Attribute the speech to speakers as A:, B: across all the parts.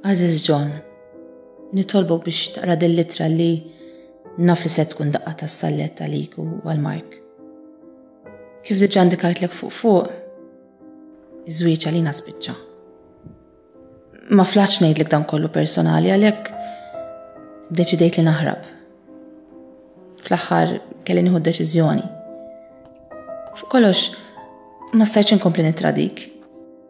A: Aziz John, nitolbu biex taqra din litra li naf li se tkun daqqa ta' sallet għalik u għal-Mark. Kif diġa indikajtlek fuq fuq, iż-żwieġ għalina spiċċa. Ma flaċ ngħidlek dan kollu personali għalhekk deċidejt li naħrab. Fl-aħħar kelli nieħu deċiżjoni. Fuq kollox ma stajtx inkompli nittradik.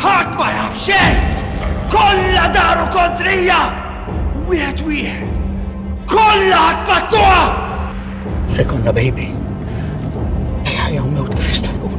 A: Ħadd ma jaf xejn! Kollha daru kontrija! Wieħed wieħed! Kollha tpattuha! Se jkollna baby. Ejja jew mewt kif jista' jkun.